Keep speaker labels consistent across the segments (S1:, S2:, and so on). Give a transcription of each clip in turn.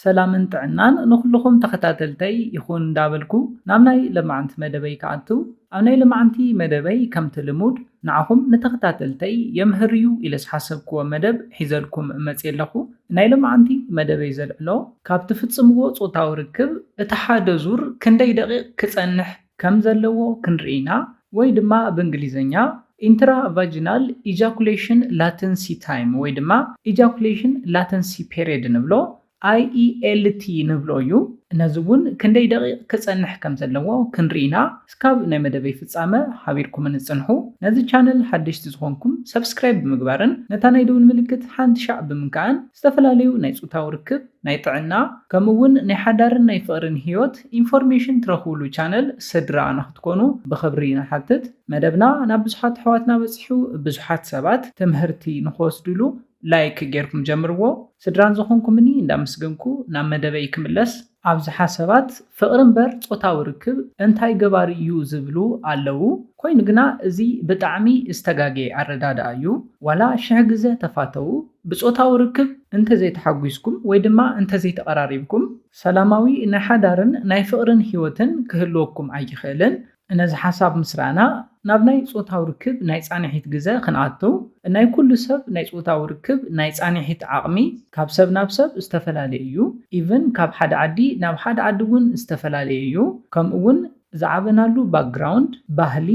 S1: ሰላምን ጥዕናን ንኹሉኹም ተኸታተልተይ ይኹን እንዳበልኩ ናብ ናይ ለማዕንቲ መደበይ ክኣቱ ኣብ ናይ ለማዕንቲ መደበይ ከምቲ ልሙድ ንዓኹም ንተኸታተልተይ የምህር እዩ ኢለ ዝሓሰብክዎ መደብ ሒዘልኩም መጽየ ኣለኹ ናይ ለማዕንቲ መደበይ ዘልዕሎ ካብ ትፍጽምዎ ጾታዊ ርክብ እቲ ሓደ ዙር ክንደይ ደቂቅ ክጸንሕ ከም ዘለዎ ክንርኢ ኢና፣ ወይ ድማ ብእንግሊዝኛ ኢንትራቫጂናል ኢጃኩሌሽን ላተንሲ ታይም ወይ ድማ ኢጃኩሌሽን ላተንሲ ፔሬድ ንብሎ፣ IELT፣ ንብሎ እዩ። ነዚ እውን ክንደይ ደቒቕ ክጸንሕ ከም ዘለዎ ክንርኢ ኢና። እስካብ ናይ መደበይ ፍጻመ ሓቢርኩምኒ ጽንሑ። ነዚ ቻነል ሓደሽቲ ዝኾንኩም ሳብስክራይብ ብምግባርን ነታ ናይ ደውል ምልክት ሓንቲ ሻዕ ብምንካእን ዝተፈላለዩ ናይ ጾታዊ ርክብ፣ ናይ ጥዕና ከምኡ ውን ናይ ሓዳርን ናይ ፍቕርን ህይወት ኢንፎርሜሽን ትረኽብሉ ቻነል ስድራ ንኽትኮኑ ብኽብሪ ንሓትት። መደብና ናብ ብዙሓት ኣሕዋትና በጺሑ ብዙሓት ሰባት ትምህርቲ ንኽወስድሉ ላይክ ጌርኩም ጀምርዎ። ስድራን ዝኾንኩምኒ እንዳመስገንኩ ናብ መደበይ ክምለስ። ኣብዝሓ ሰባት ፍቕሪ እምበር ጾታዊ ርክብ እንታይ ገባሪ እዩ ዝብሉ ኣለዉ ኮይኑ ግና እዚ ብጣዕሚ ዝተጋገየ ኣረዳድኣ እዩ ዋላ ሽሕ ግዘ ተፋተዉ ብጾታዊ ርክብ እንተ ዘይተሓጒስኩም ወይ ድማ እንተ ዘይተቐራሪብኩም፣ ሰላማዊ ናይ ሓዳርን ናይ ፍቕርን ህይወትን ክህልወኩም ኣይክእልን። ነዚ ሓሳብ ምስ ረኣና፣ ናብ ናይ ጾታዊ ርክብ ናይ ጻንሒት ግዘ ክንኣቱ፣ ናይ ኩሉ ሰብ ናይ ጾታዊ ርክብ ናይ ጻንሒት ዓቕሚ ካብ ሰብ ናብ ሰብ ዝተፈላለየ እዩ፣ ኢቭን ካብ ሓደ ዓዲ ናብ ሓደ ዓዲ እውን ዝተፈላለየ እዩ፣ ከምኡ እውን፣ ዝዓበናሉ ባክግራውንድ፣ ባህሊ፣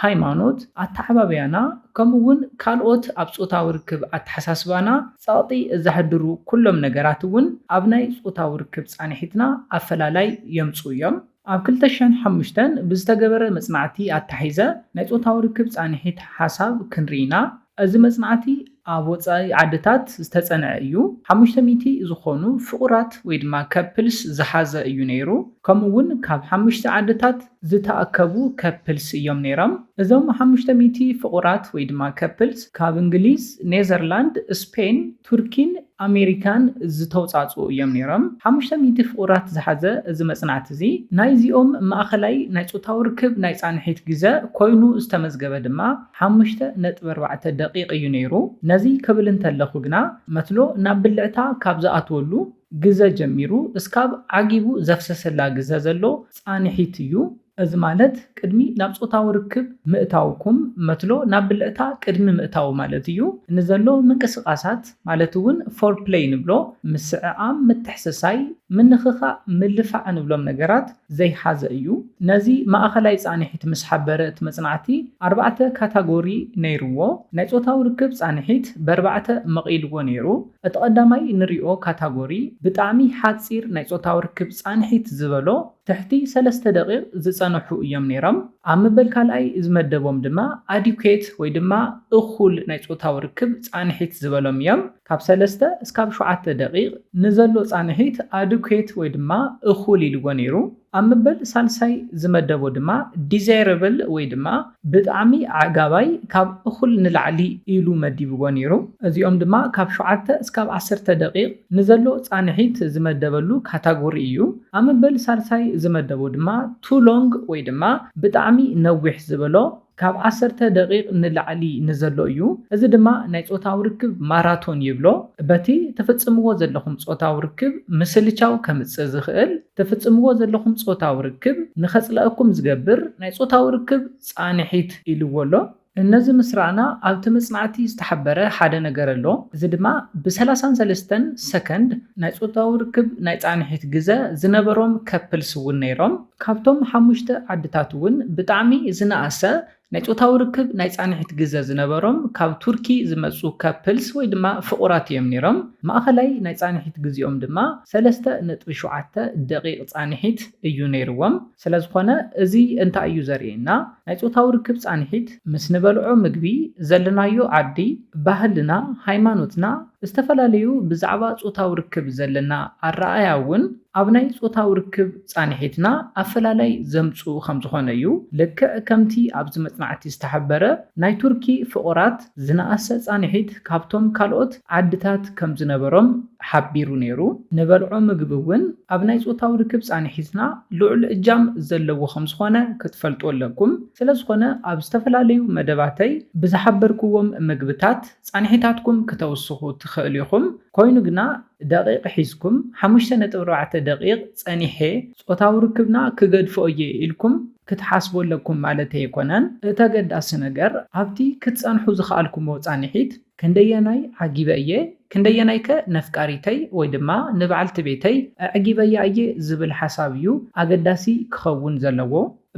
S1: ሃይማኖት፣ ኣተዓባብያና ከምኡ እውን ካልኦት ኣብ ፆታዊ ርክብ ኣተሓሳስባና ፀቕጢ ዘሕድሩ ኩሎም ነገራት እውን ኣብ ናይ ፆታዊ ርክብ ፃንሒትና ኣፈላላይ የምፅኡ እዮም። ኣብ ክልተ ሽሕን ሓሙሽተን ብዝተገበረ መፅናዕቲ ኣተሓሒዘ ናይ ፆታዊ ርክብ ፃንሒት ሓሳብ ክንርኢ ኢና። እዚ መጽናዕቲ ኣብ ወጻኢ ዓድታት ዝተጸንዐ እዩ። ሓሙሽተ ሚእቲ ዝኾኑ ፍቑራት ወይ ድማ ከፕልስ ዝሓዘ እዩ ነይሩ። ከምኡ እውን ካብ ሓሙሽተ ዓድታት ዝተኣከቡ ከፕልስ እዮም ነይሮም። እዞም ሓሙሽተ ሚእቲ ፍቑራት ወይ ድማ ከፕልስ ካብ እንግሊዝ፣ ኔዘርላንድ፣ ስፔን፣ ቱርኪን ኣሜሪካን ዝተውፃእፅኡ እዮም ነይሮም። ሓሙሽተ ሚእቲ ፍቑራት ዝሓዘ እዚ መፅናዕቲ እዚ ናይዚኦም ማእኸላይ ናይ ፆታዊ ርክብ ናይ ፃንሒት ግዘ ኮይኑ ዝተመዝገበ ድማ ሓሙሽተ ነጥቢ ኣርባዕተ ደቒቕ እዩ ነይሩ። ነዚ ክብል እንተለኹ ግና መትሎ ናብ ብልዕታ ካብ ዝኣትወሉ ግዘ ጀሚሩ እስካብ ዓጊቡ ዘፍሰሰላ ግዘ ዘሎ ፃንሒት እዩ። እዚ ማለት ቅድሚ ናብ ጾታዊ ርክብ ምእታውኩም፣ መትሎ ናብ ብልዕታ ቅድሚ ምእታዉ ማለት እዩ፣ ንዘሎ ምንቅስቓሳት ማለት እውን ፎርፕለይ ንብሎ፣ ምስዕዓም፣ ምትሕስሳይ፣ ምንኽኻእ፣ ምልፋዕ ንብሎም ነገራት ዘይሓዘ እዩ። ነዚ ማእኸላይ ፃንሒት ምስ ሓበረ እቲ መፅናዕቲ ኣርባዕተ ካታጎሪ ነይርዎ። ናይ ጾታዊ ርክብ ፃንሒት በርባዕተ መቒልዎ ነይሩ። እቲ ቐዳማይ ንሪኦ ካታጎሪ ብጣዕሚ ሓፂር ናይ ጾታዊ ርክብ ፃንሒት ዝበሎ ትሕቲ ሰለስተ ደቒቕ ዝጸንሑ እዮም ነይሮም። ኣብ መበል ካልኣይ ዝመደቦም ድማ ኣዲኩዌት ወይ ድማ እኹል ናይ ጾታዊ ርክብ ጻንሒት ዝበሎም እዮም። ካብ ሰለስተ እስካብ ሸውዓተ ደቒቕ ንዘሎ ጻንሒት ኣዲኩዌት ወይ ድማ እኹል ኢልዎ ነይሩ። ኣብ መበል ሳልሳይ ዝመደቦ ድማ ዲዛይረብል ወይ ድማ ብጣዕሚ ኣዕጋባይ ካብ እኹል ንላዕሊ ኢሉ መዲብዎ ኔሩ እዚኦም ድማ ካብ ሸውዓተ እስካብ ዓሰርተ ደቂቅ ንዘሎ ጻንሒት ዝመደበሉ ካታጎሪ ኢዩ ኣብ መበል ሳልሳይ ዝመደቦ ድማ ቱ ሎንግ ወይ ድማ ብጣዕሚ ነዊሕ ዝበሎ ካብ ዓሰርተ ደቂቅ ንላዕሊ ንዘሎ ኢዩ እዚ ድማ ናይ ጾታዊ ርክብ ማራቶን ይብሎ በቲ ትፍጽምዎ ዘለኹም ጾታዊ ርክብ ምስልቻው ከምጽእ ዝኽእል እተፍጽምዎ ዘለኹም ጾታዊ ርክብ ንኸጽለኣኩም ዝገብር ናይ ጾታዊ ርክብ ጻንሒት ኢልዎ ኣሎ። ነዚ ምስ ረኣና ኣብቲ መጽናዕቲ ዝተሓበረ ሓደ ነገር ኣሎ፣ እዚ ድማ ብ ሰላሳን ሰለስተን ሰከንድ ናይ ጾታዊ ርክብ ናይ ጻንሒት ግዘ ዝነበሮም ከፕልስ እውን ነይሮም። ካብቶም ሓሙሽተ ዓድታት እውን ብጣዕሚ ዝነኣሰ ናይ ጾታዊ ርክብ ናይ ጻንሒት ግዘ ዝነበሮም ካብ ቱርኪ ዝመጹ ከፕልስ ወይ ድማ ፍቑራት እዮም ነይሮም። ማእኸላይ ናይ ጻንሒት ግዜኦም ድማ ሰለስተ ነጥቢ ሸውዓተ ደቒቕ ጻንሒት እዩ ነይርዎም። ስለዝኾነ እዚ እንታይ እዩ ዘርእየና? ናይ ጾታዊ ርክብ ጻንሒት ምስ ንበልዖ ምግቢ፣ ዘለናዮ ዓዲ፣ ባህልና፣ ሃይማኖትና፣ ዝተፈላለዩ ብዛዕባ ጾታዊ ርክብ ዘለና ኣረኣእያ እውን፣ ኣብ ናይ ጾታዊ ርክብ ጻንሒትና ኣፈላላይ ዘምጽኡ ከም ዝኾነ እዩ። ልክዕ ከምቲ ኣብዚ መጽናዕቲ ዝተሓበረ፣ ናይ ቱርኪ ፍቑራት ዝነኣሰ ጻንሒት ካብቶም ካልኦት ዓድታት ከም ዝነበሮም ሓቢሩ ነይሩ። ንበልዖ ምግቢ እውን ኣብ ናይ ጾታዊ ርክብ ጻንሒትና ልዑል እጃም ዘለዎ ከም ዝኾነ ክትፈልጡ ኣለኩም። ስለ ዝኾነ ኣብ ዝተፈላለዩ መደባተይ ብዝሓበርክዎም ምግብታት ጻንሒታትኩም ክተውስኹ ትኽእሉ ኢኹም። ኮይኑ ግና ደቒቕ ሒዝኩም ሓሙሽተ ነጥቢ ኣርባዕተ ደቒቕ ጸኒሐ ጾታዊ ርክብና ክገድፎ እየ ኢልኩም ክትሓስቡ ኣለኩም ማለተይ ኣይኮነን። እቲ ኣገዳሲ ነገር ኣብቲ ክትጸንሑ ዝኸኣልኩምዎ ጻንሒት ክንደየናይ ዓጊበ እየ፣ ክንደየናይከ ነፍቃሪተይ ወይ ድማ ንበዓልቲ ቤተይ ኣዕጊበያ እየ ዝብል ሓሳብ እዩ ኣገዳሲ ክኸውን ዘለዎ።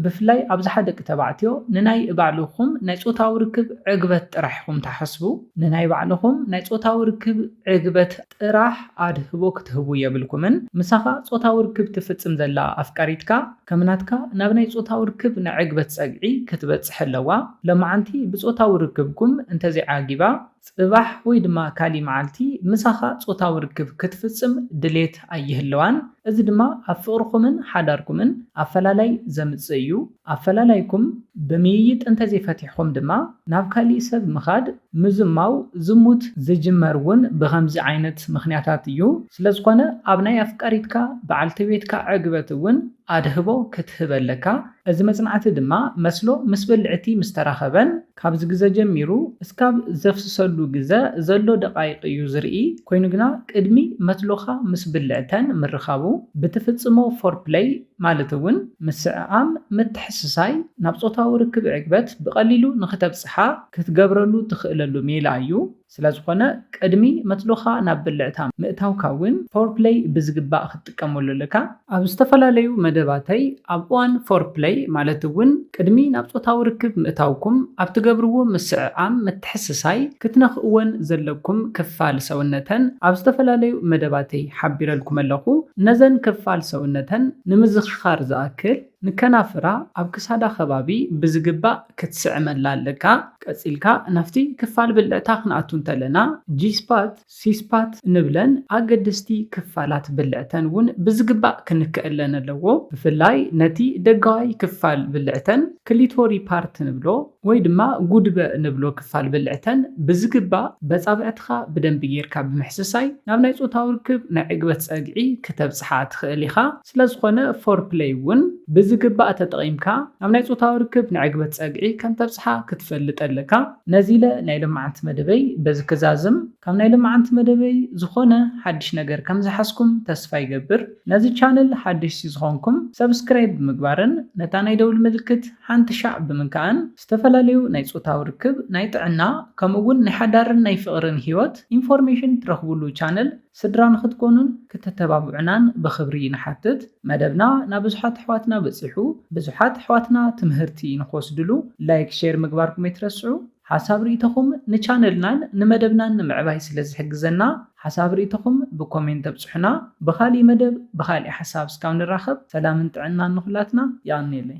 S1: ብፍላይ ኣብዝሓ ደቂ ተባዕትዮ ንናይ ባዕልኹም ናይ ጾታዊ ርክብ ዕግበት ጥራሕ ኢኹም ትሓስቡ። ንናይ ባዕልኹም ናይ ጾታዊ ርክብ ዕግበት ጥራሕ ኣድህቦ ክትህቡ የብልኩምን። ምሳኻ ጾታዊ ርክብ ትፍጽም ዘላ ኣፍቃሪትካ ከም ናትካ ናብ ናይ ጾታዊ ርክብ ናይ ዕግበት ጸግዒ ክትበጽሕ ኣለዋ። ሎማዓንቲ ብጾታዊ ርክብኩም እንተዘይዓጊባ፣ ጽባሕ ወይ ድማ ካሊእ መዓልቲ ምሳኻ ጾታዊ ርክብ ክትፍጽም ድሌት ኣይህልዋን፣ እዚ ድማ ኣብ ፍቕርኹምን ሓዳርኩምን ኣፈላላይ ዘምጽእ እዩ። ኣፈላላይኩም ብምይይጥ እንተዘይፈቲሕኩም ድማ ናብ ካሊእ ሰብ ምኻድ፣ ምዝማው፣ ዝሙት፣ ዝጅመር እውን ብኸምዚ ዓይነት ምኽንያታት እዩ። ስለዝኾነ ኣብ ናይ ኣፍቃሪትካ በዓልቲ ቤትካ ዕግበት እውን ኣድህቦ ክትህብ ኣለካ። እዚ መጽናዕቲ ድማ መስሎ ምስ ብልዕቲ ምስተራኸበን፣ ካብዚ ግዘ ጀሚሩ እስካብ ዘፍስሰሉ ግዘ ዘሎ ደቓይቕ እዩ ዝርኢ፣ ኮይኑ ግና ቅድሚ መትሎኻ ምስ ብልዕተን ምርኻቡ ብትፍፅሞ ፎርፕለይ ማለት እውን ምስዕዓም፣ ምትሕስሳይ፣ ናብ ፆታዊ ርክብ ዕግበት ብቐሊሉ ንክተብፅሓ ክትገብረሉ ትኽእለሉ ሜላ እዩ። ስለዝኾነ ቅድሚ መትሎኻ ናብ ብልዕታ ምእታውካ እውን ፎርፕለይ ብዝግባእ ክትጥቀመሉ ኣለካ። ኣብ ዝተፈላለዩ መደባተይ ኣብ እዋን ፎርፕለይ ማለት እውን ቅድሚ ናብ ጾታዊ ርክብ ምእታውኩም ኣብ ትገብርዎ ምስዕዓም ምትሕስሳይ ክትነኽእወን ዘለኩም ክፋል ሰውነተን ኣብ ዝተፈላለዩ መደባተይ ሓቢረልኩም ኣለኹ። ነዘን ክፋል ሰውነተን ንምዝኽኻር ዝኣክል። ንከናፍራ ኣብ ክሳዳ ከባቢ ብዝግባእ ክትስዕመላ ኣለካ። ቀጺልካ ናብቲ ክፋል ብልዕታ ክንኣቱ እንተለና G-spot፣ C-spot እንብለን ኣገደስቲ ክፋላት ብልዕተን እውን ብዝግባእ ክንከኣለን ኣለዎ። ብፍላይ ነቲ ደጋዋይ ክፋል ብልዕተን Clitory Part ንብሎ። ወይ ድማ ጉድበ ንብሎ ክፋል ብልዕተን ብዝግባእ በጻብዕትኻ ብደንቢ ጌርካ ብምሕስሳይ ናብ ናይ ጾታዊ ርክብ ናይ ዕግበት ጸግዒ ክተብጽሓ ትኽእል ኢኻ። ስለዝኾነ ፎርፕለይ እውን ብዝግባእ ተጠቒምካ ናብ ናይ ጾታዊ ርክብ ናይ ዕግበት ጸግዒ ከምተብጽሓ ክትፈልጥ ኣለካ። ነዚለ ናይ ሎምዓንቲ መደበይ በዚ ክዛዝም። ካብ ናይ ሎምዓንቲ መደበይ ዝኾነ ሓድሽ ነገር ከምዝሓዝኩም ተስፋ ይገብር። ነዚ ቻነል ሓደሽቲ ዝኾንኩም ሰብስክራይብ ብምግባርን ነታ ናይ ደውሊ ምልክት። ሓንቲ ሻዕ ብምንካኣን ዝተፈላለዩ ናይ ፆታዊ ርክብ፣ ናይ ጥዕና ከምኡ እውን ናይ ሓዳርን ናይ ፍቕርን ህይወት ኢንፎርሜሽን ትረኽቡሉ ቻነል ስድራ ንኽትኮኑን ክተተባብዑናን ብኽብሪ ንሓትት። መደብና ናብዙሓት ኣሕዋትና በፂሑ ብዙሓት ኣሕዋትና ትምህርቲ ንኽወስድሉ ላይክ ሼር ምግባርኩም ኣይትረስዑ። ሓሳብ ሪኢቶኹም ንቻነልናን ንመደብናን ንምዕባይ ስለ ዝሕግዘና ሓሳብ ሪኢቶኹም ብኮሜንት ኣብፅሑና ብኻሊእ መደብ ብኻሊእ ሓሳብ እስካብ ንራኸብ ሰላምን ጥዕናን ንኹላትና የቐንየለይ።